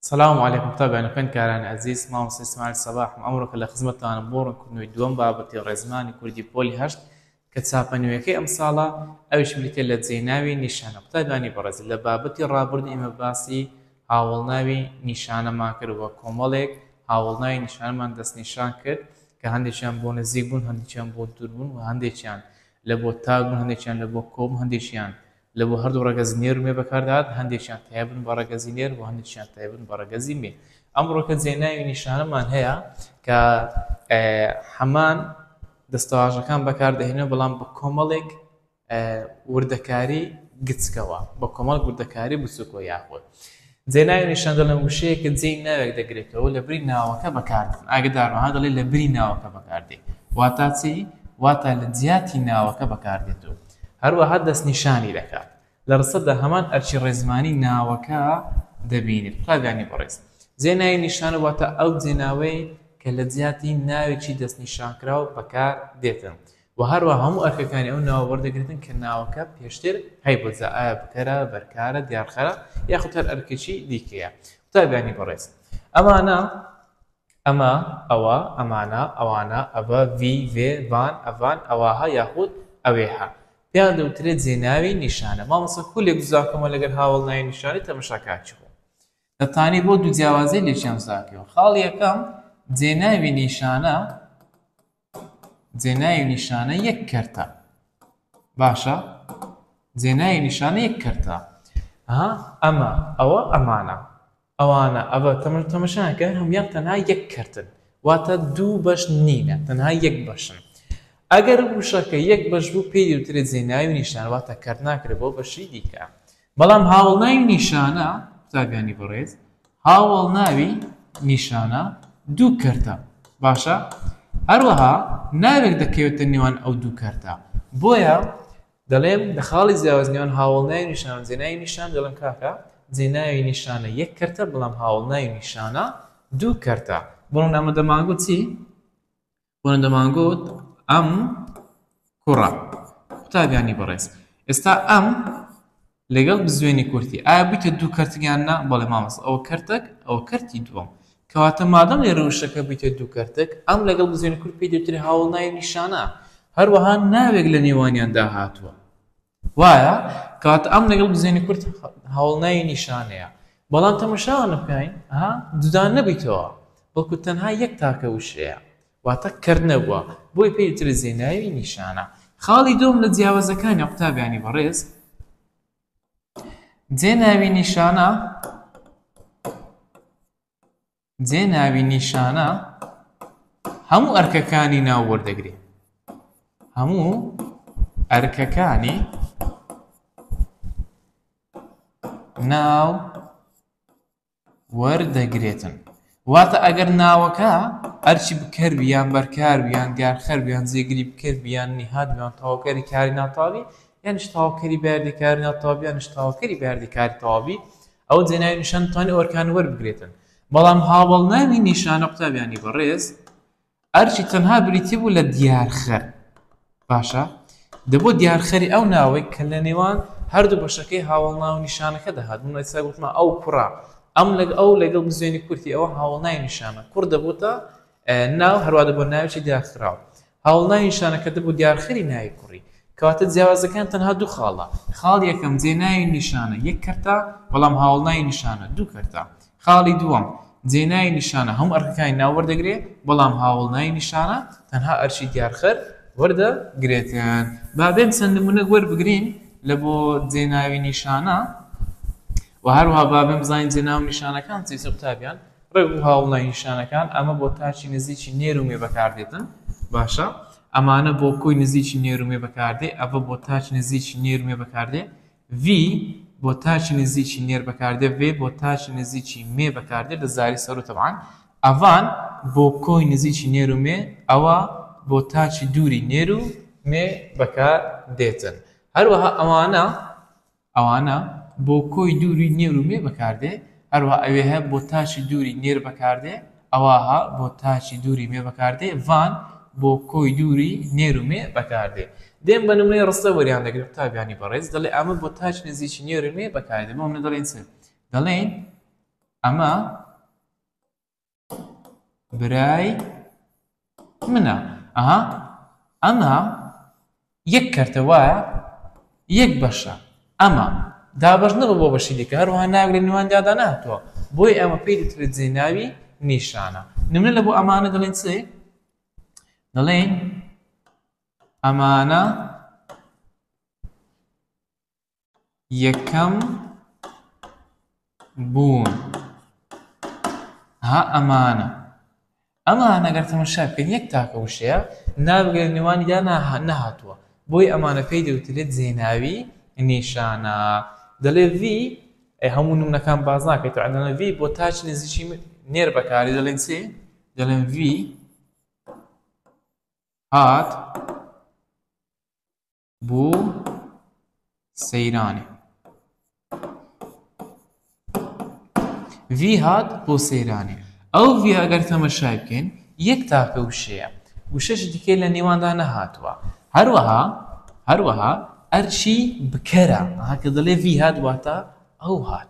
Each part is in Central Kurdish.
سلام علیکم قوتابیانی خوێندکارانی ئەزیز مامۆستا ئیسماعیل سەباحم ئەمڕۆ کە لە خزمەتتانم بۆ ڕوونکردنەوەی دووەم بابەتی ڕێزمانی کوردی پۆلی هەشت کە چاپە نوێیەکەی ئەمساڵە ئەویش بریتییە لە جێی ناوی نیشانە قوتابیانی بەڕێز لە بابەتی ڕابردوو ئێمە باسی هاوەڵناوی نیشانەمان کرد و کۆمەڵێک هاوەڵناوی نیشانەمان دەستنیشان کرد کە هەندێکیان بۆ نزیک بوون هەندێکیان بۆ دوور بوون و هەندێکیان لە بۆ تاک بوون هەندێکیان لە بۆ کۆ بوون هەندێکیان لە بۆ هەردوو ڕەگەزی نێر و مێ بەکاردەهات، هەندێکیان تایبەتن بە ڕەگەزی نێر و هەندێکیان تایبەتن بە ڕەگەزی مێ. ئەمڕۆکە جێناوی نیشانەمان هەیە کە هەمان دەستەواژەکان بەکاردەهێنێت بەڵام بە کۆمەڵێک وردەکاری گچکەوە بە کۆمەڵ وردەکاری بچووکەوە یاخود جێناوی نیشاندە لەم وشەیە کە جێی ناوێک دەگرێتەوە لە بری ناوەکە بەکاردێت، ئاگدار وەها دەڵێت لە بری ناوەکە بەکاردێت واتا چی؟ واتا لە جیاتی ناوەکە بەکاردێتەوە. هەروەها دەستنیشانی دەکات. لە ڕستەدا هەمان ئەرکی ڕێزمانی ناوەکە دەبینێت. قوتابیانی بەڕێز، جێناوی نیشانە واتە ئەو جێناوەی کە لە جیاتی ناوێکی دەستنیشانکراو بەکاردێتن. وە هەروەها هەموو ئەرکەکانی ئەو ناوە وەردەگرێتن کە ناوەکە پێشتر هەیبوو جا ئایا بکەرە، بەرکارە، دیارخەرە یاخود هەر ئەرکێکی دیکەیە. قوتابیانی بەڕێز ئەمانە، ئەمە، ئەوە، ئەمانە، ئەوانە، ئەڤە، ڤی، ڤێ، ڤان، ئەڤان، ئەواها یاخود ئەوێها پێیان دەوترێت جێناوی نیشانە. مامۆستا کولێک جوداکەمەوە لەگەر هاوەڵناوی نیشانەی تەمەشاکارکی خۆم. دەتانی بۆ دوو جیاوازی لێکیان جوداکەیەوە. خاڵی یەکەم، جێناوی نیشانە، جێناوی نیشانە یەک کەرتە باشە جێناوی نیشانە یەک کەرتە ها ئەمە ئەوە ئەمانە ئەوانە ئەوە تەمەر تەمەشاکە هەموان تەنها یەک کەرتن واتە دوو بەش نینە تەنها یەک بەشن ئەگەر وشەکە یەک بەش بوو پێی دوترێت جێناوی نیشان واتە کەرت ناکرێت بۆ بەشی دیکە بەڵام هاوەڵناوی نیشانە، قوتابیانی بەڕێز، هاوەڵناوی نیشانە دوو کەرتە، باشە؟ هەروەها ناوێک دەکەوێتە نێوان ئەو دوو کەرتە، بۆیە دەڵێم لە خاڵی جیاواز نێوان هاوەڵناوی نیشانە و جێناوی نیشانە دەڵێم کاکە جێناوی نیشانە یەک کەرتە بەڵام هاوەڵناوی نیشانە دوو کەرتە، بەڵام ئەمە دەمانگوت چی؟ بۆن دەمانگوت ئەم کوڕە قوتابیانی بەڕێز ئێستا ئەم لەگەڵ بزوێنی کورتی ئایا بوویتە دوو کەرتگیان نا بەڵێ مامەس ئەوە کەرتەک ئەوە کەرتی دووەم کەواتە مادەم لێ ڕوشەکە بوویتە دوو کەرتەک ئەم لەگەڵ بزوێنی کورت پێ دەوترێ هاوڵ ناوی نیشانە هەروەها ناوێک لە نێوانیاندا هاتووە وایە کەواتە ئەم لەگەڵ بزێنی کورد هەوڵنای نیشانەیە بەڵام تەمەشاوانە بکەین ها دودان نەبیتەوە بەڵکو تەنها یەک تاکە وشەیە واتە کەرد نەبووە بۆی پێی تر زێناوی نیشانە خاڵی دوم لە جیاوازەکانی قوتابیانی بەڕێز جێناوی نیشانە جێ ناوی نیشانە هەموو ئەرکەکانی ناو وەردەگری هەموو ئەرکەکانی ناو وەردەگرێتن واتە ئەگەر ناوەکە ئەرچی بکەر بیان بەرکار بیان گارخەر بیان جێگری بکەر بیان نیهات بیان تاوکەری کاری ناتاوی یان شتاوکەری بەردەکار ناتاوی یان شتاوکەری بەردەکار تاوی ئەوە جێناوی نیشان دەتوانێت ئەرکان وەربگرێتن بەڵام هاوەڵناوی نیشانە قوتابیانی بەڕێز ئەرچی تەنها بریتی بوو لە دیارخەر باشە دەبوو دیارخەری ئەو ناوەی کە لە نێوان هەردوو بەشەکەی هاوڵناو نیشانەکە دەهات من ئێستا گوتمە ئەو کوڕە ئەم لەگ ئەو لەگەڵ بزوێنی کورتی ئەوە هاوڵنای نیشانە کوڕ دەبووتە ناو هەروە بۆ ناوچی دیاخراو هاوڵناوی نیشانەکەتە بۆ دیارخەری ناوی کوڕی، کەواتە جیاوازەکان تەنها دوو خاڵە، خاڵی یەکەم جێ ناوی نیشانە یەک کەرتە، بەڵام هاوڵناوی نیشانە دوو کەرتە. خاڵی دووەم، جێ ناوی نیشانە هەموو ئەرکەکانی ناو وەردەگرێ، بەڵام هاوڵناوی نیشانە تەنها ئەرکی دیارخەر وەردەگرێت. با بێن چەند نموونەک وەربگرین لە بۆ جێ ناوی نیشانە و هەروەها با بێن بزانین جێ ناو و نیشانەکان چی چ قوتابیان. ڕێک و هاوڵ ناینیشانەکان ئەمە بۆ تاکی نزیکی نێر و مێ بەکاردێتن باشە ئەمانە بۆ کۆی نزیکی نێر و مێ بەکاردێ ئەڤە بۆ تاکی نزیکی نێر و مێ بەکاردێ ڤی بۆ تاکی نزیکی نێر بەکاردێ ڤێ بۆ تاکی نزیکی مێ بەکاردێ لە زاری سەر و تەبعان ئەڤان بۆ کۆی نزیکی نێر و مێ ئەوە بۆ تاکی دووری نێر و مێ بەکار دێتن هەروەها ئەوانە ئەوانە بۆ کۆی دووری نێر و مێ بەکاردێ، هەروا ئەوێه بۆ تاچی دووری نێر بەکاردێ، ئەواها بۆ تاچی دووری مێ بەکاردێ، ڤان بۆ کۆی دووری نێر و مێ بەکاردێ. دێم بە نمونەی ڕستە وەریان دەگرم قوتابیانی بەڕێز، دەڵێ ئەمە بۆ تاچی نزیکی نێر و مێ بەکاردێ، بۆ نمونە دەڵێین چ؟ دەڵێین ئەمە. برای منە ئەها ئەمە یەک کەرتە وایە یەک بەشە ئەمە دابش نەبە بۆ بەشی دیکە هەروها ناوی لە نێوان دادا ناتوە بۆی ئەمە پێی دەترێت جێ ناوی نیشانە نمە لە بۆ ئەمانە دەڵێن چێ دەڵێن ئەمانە یەکەم بوون ها ئەمانە ئەمانە گەر تەمەشا بکەن یەک تاکە وشەیە نابگەێت نێوانی دا نەهاتووە بۆی ئەمانە پێی دەوترێت زێناوی نیشانە دەڵێ وی هەموو نمونەکان باز ناکەێت ئەدەە وی بۆ تاچ نزیشی نێر بەکاری دەڵێن سێ دەڵێن وی هات بۆ سەیرانێ وی هات بۆ سەیرانێ ئەو وی ئەگەر تەمەشای بکەین یەک تاکە وشەیە وشەش دیکە لە نێواندا نەهاتووە هەروەها هەروەها ئەرچی بکەرە هاکە دەڵێ وی هات واتە ئەو هات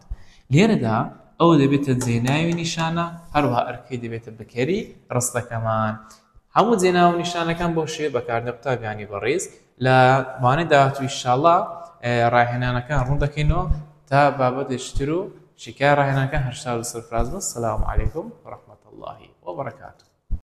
لێرەدا ئەو دەبێتە جێناوی نیشانە هەروها ئەرکەی دەبێتە بکەری ڕستەکەمان هەموو جێ ناو و نیشانەکان بەو شێوەیە بەکاردێن قوتابیانی بەڕێز لە وانەی داهاتوو ئیشاڵا ڕاهێنانەکان ڕوون دەکەینەوە تا بابەتێکی تر و شیکای ڕاهێنانەکان هەر شاد و سەرفراز بن سەلام علیکم و ڕەحمەتوڵڵاهی وبەڕەکاتوو